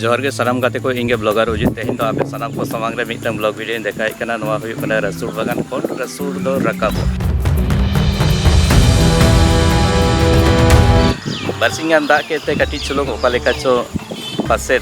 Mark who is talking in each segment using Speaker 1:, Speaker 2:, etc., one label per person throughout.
Speaker 1: ᱡᱚᱦᱟᱨ ᱜᱮ ᱥᱟᱱᱟᱢ ᱜᱟᱛᱮ ᱠᱚ ᱤᱧ ᱜᱮ ᱵᱞᱚᱜᱟᱨ ᱚᱡᱤᱛ ᱛᱮᱦᱮᱧ ᱫᱚ ᱟᱯᱮ ᱥᱟᱱᱟᱢ ᱠᱚ ᱥᱟᱢᱟᱝ ᱨᱮ ᱢᱤᱫᱴᱟᱝ ᱵᱞᱚᱜ ᱵᱷᱤᱰᱤᱭᱳᱧ ᱫᱮᱠᱷᱟᱣᱮᱫ ᱠᱟᱱᱟ ᱱᱚᱣᱟ ᱦᱩᱭᱩᱜ ᱠᱟᱱᱟ ᱨᱟᱹᱥᱩᱲ ᱵᱟᱜᱟᱱ ᱠᱷᱚᱱ ᱨᱟᱹᱥᱩᱲ ᱫᱚ ᱨᱟᱠᱟᱵᱚᱜ ᱵᱟᱨᱥᱤᱧ ᱜᱟᱱ ᱫᱟᱜ ᱠᱮᱫ ᱛᱮ ᱠᱟᱹᱴᱤᱡ ᱪᱩᱞᱩᱝ ᱚᱠᱟ ᱞᱮᱠᱟ ᱪᱚ ᱯᱟᱥᱮᱫ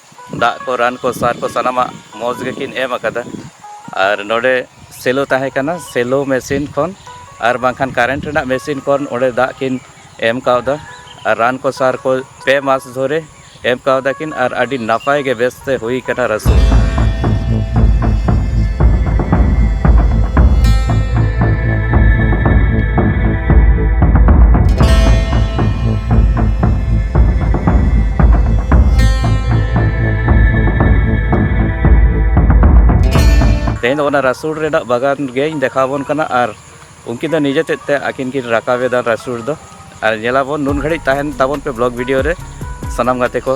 Speaker 1: ᱫᱟᱜ ᱠᱚ ᱨᱟᱱ ᱠᱚ ᱥᱟᱨ ᱠᱚ ᱥᱟᱱᱟᱢᱟᱜ ᱢᱚᱡᱽ ᱜᱮᱠᱤᱱ ᱮᱢ ᱟᱠᱟᱫᱟ ᱟᱨ ᱱᱚᱰᱮ ᱥᱮᱞᱳ ᱛᱟᱦᱮᱸ ᱠᱟᱱᱟ ᱥᱮᱞᱳ ᱢᱮᱥᱤᱱ ᱠᱷᱚᱱ ᱟᱨ ᱵᱟᱝᱠᱷᱟᱱ ᱠᱟᱨᱮᱱᱴ ᱨᱮᱱᱟᱜ ᱢᱮᱥᱤᱱ ᱠᱷᱚᱱ ᱚᱸᱰᱮ ᱫᱟᱜ ᱠᱤᱱ ᱮᱢ ᱠᱟᱣᱫᱟ ᱟᱨ ᱨᱟᱱ ᱠᱚ ᱥᱟᱨ ᱠᱚ ᱯᱮ ᱢᱟᱥ ᱫᱷᱚᱨᱮ ᱮᱢ ᱠᱟᱣᱫᱟ ᱠᱤᱱ ᱟᱨ ᱟᱹᱰᱤ ᱱᱟᱯᱟᱭ ᱜᱮ ᱵᱮᱥ ᱛᱮ ᱦᱩᱭ ᱠᱟᱱᱟ ᱨᱟᱹᱥᱩᱱ ᱛᱮᱦᱮᱧ ᱫᱚ ᱚᱱᱟ ᱨᱟᱥᱩᱲ ᱨᱮᱱᱟᱜ ᱵᱟᱜᱟᱱ ᱜᱮᱧ ᱫᱮᱠᱷᱟᱣᱟᱵᱚᱱ ᱠᱟᱱᱟ ᱟᱨ ᱩᱱᱠᱤᱱ ᱫᱚ ᱱᱤᱡᱮ ᱛᱮᱫ ᱛᱮ ᱟᱹᱠᱤᱱ ᱠᱤᱱ ᱨᱟᱠᱟᱵᱮᱫᱟ ᱨᱟᱥᱩᱲ ᱫᱚ ᱟᱨ ᱧᱮᱞᱟᱵᱚᱱ ᱱᱩᱱ ᱜᱷᱟᱹᱲᱤᱡ ᱛᱟᱦᱮᱱ ᱛᱟᱵᱚᱱ ᱯᱮ ᱵᱞᱚᱜᱽ ᱵᱷᱤᱰᱤᱭᱳ ᱨᱮ ᱥᱟᱱᱟᱢ ᱜᱟᱛᱮ ᱠᱚ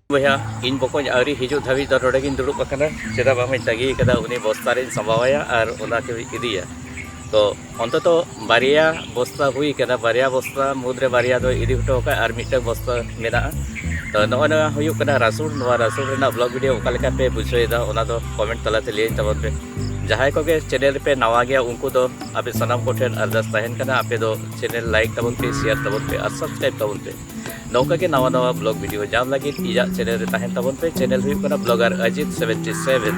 Speaker 1: ᱵᱚᱭᱦᱟ ᱤᱧ ᱵᱚᱠᱚᱧ ᱟᱹᱣᱨᱤ ᱦᱤᱡᱩᱜ ᱫᱷᱟᱹᱵᱤᱡ ᱫᱚ ᱱᱚᱰᱮ ᱜᱤᱧ ᱫᱩᱲᱩᱵ ᱟᱠᱟᱱᱟ ᱪᱮᱫᱟᱜ ᱵᱟᱝ ᱤᱧ ᱛᱟᱹᱜᱤ ᱟᱠᱟᱫᱟ ᱩᱱᱤ ᱵᱚᱥᱛᱟ ᱨᱤᱧ ᱥᱟᱢᱵᱟᱣᱟᱭᱟ ᱟᱨ ᱚᱱᱟ ᱠᱚᱧ ᱤᱫᱤᱭᱟ ᱛᱚ ᱚᱱᱛᱚᱛᱚ ᱵᱟᱨᱭᱟ ᱵᱚᱥᱛᱟ ᱦᱩᱭ ᱟᱠᱟᱱᱟ ᱵᱟᱨᱭᱟ ᱵᱚᱥᱛᱟ ᱢᱩᱫᱽᱨᱮ ᱵᱟᱨᱭᱟ ᱫᱚ ᱤᱫᱤ ᱦᱚᱴᱚ ᱟᱠᱟᱫ ᱟᱨ ᱢᱤᱫᱴᱟᱝ ᱵᱚᱥᱛᱟ ᱢᱮᱱᱟᱜᱼᱟ ᱛᱚ ᱱᱚᱜᱼᱚᱭ ᱱᱚᱣᱟ ᱦᱩᱭᱩᱜ ᱠᱟᱱᱟ ᱨᱟᱥᱩᱞ ᱱᱚᱣᱟ ᱨᱟᱥᱩᱞ ᱨᱮᱱᱟᱜ ᱵᱞᱚᱜ ᱵᱷᱤᱰᱤᱭᱳ ᱚᱠᱟ ᱞᱮᱠᱟ ᱯᱮ ᱵᱩᱡᱷᱟᱹᱣᱮᱫᱟ ᱚᱱᱟ ᱫᱚ ᱠᱚᱢᱮᱱᱴ ᱛᱟᱞᱟᱛᱮ ᱞᱟᱹᱭᱟᱹᱧ ᱛᱟᱵᱚᱱ ᱯᱮ ᱡᱟᱦᱟᱸᱭ ᱠᱚᱜᱮ ᱪᱮᱱᱮᱞ ᱨᱮᱯᱮ ᱱᱟᱣᱟ ᱜᱮᱭᱟ ᱩᱱᱠᱩ ᱫᱚ ᱟᱯᱮ ᱥᱟᱱᱟᱢ ᱠᱚᱴᱷᱮᱱ ᱟᱨᱫᱟᱥ ᱛᱟᱦᱮᱱ ᱠᱟᱱᱟ ᱟᱯᱮ ᱫᱚ ᱪᱮᱱᱮᱞ ᱞᱟᱭᱤᱠ ᱛᱟᱵᱚᱱ ᱯᱮ ᱥᱮᱭᱟᱨ ᱛᱟᱵᱚᱱ ᱯᱮ ᱟᱨ ᱥᱟᱵᱥᱠᱨᱟᱭᱤᱵᱽ ᱛᱟᱵᱚᱱ ᱯᱮ ᱱᱚᱝᱠᱟ ᱜᱮ ᱱᱟᱣᱟ ᱱᱟᱣᱟ ᱵᱞᱚᱜ ᱵᱷᱤᱰᱤᱭᱳ ᱧᱟᱢ ᱞᱟᱹᱜᱤᱫ ᱤᱧᱟᱹᱜ ᱪᱮᱱᱮᱞ ᱨᱮ ᱛᱟᱦᱮᱱ ᱛᱟᱵᱚᱱ ᱯᱮ ᱪᱮᱱᱮᱞ ᱦᱩᱭᱩᱜ ᱠᱟᱱᱟ ᱵᱞᱚᱜᱟᱨ ᱟᱡᱤᱛ ᱥᱮᱵᱷᱮᱱᱴᱤ ᱥᱮᱵᱷᱮᱱ